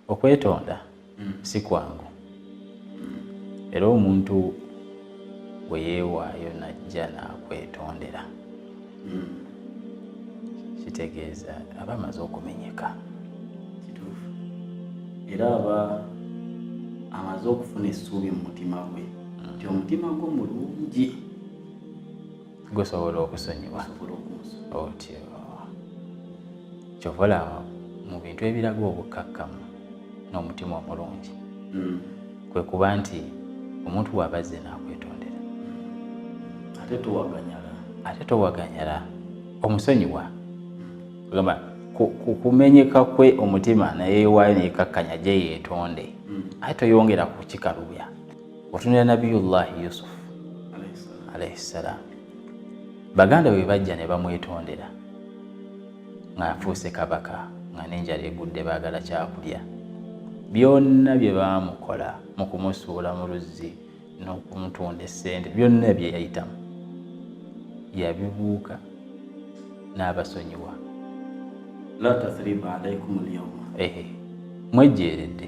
okwetonda mm. si kwangu era omuntu bwe yeewaayo najja n'akwetondera mm. kitegeeza aba amaze okumenyeka kituufu era aba amaze okufuna essuubi mu mutima gwe mm. nti omutima gwo mulungi gusobola okusonyiwa otyo kyovola mu bintu ebiraga obukkakkamu n'omutima omulungi hmm. kwe kuba nti omuntu waaba azze n'akwetondera ate towaganyala ate towaganyala omusonyiwa gamba kumenyeka kwe omutima naye waayo neyekakkanya gye yeetonde hmm. ate toyongera kukikalubya otunira nabiyullahi yusuf alaihi ssalaamu baganda bwe bajja ne bamwetondera ng'afuuse kabaka nga n'enjala egudde baagala kyakulya byonna bye baamukola mu kumusuula mu luzzi n'okumutunda essente byonna bye yayitamu yabibuuka n'abasonyiwa mwejjeeredde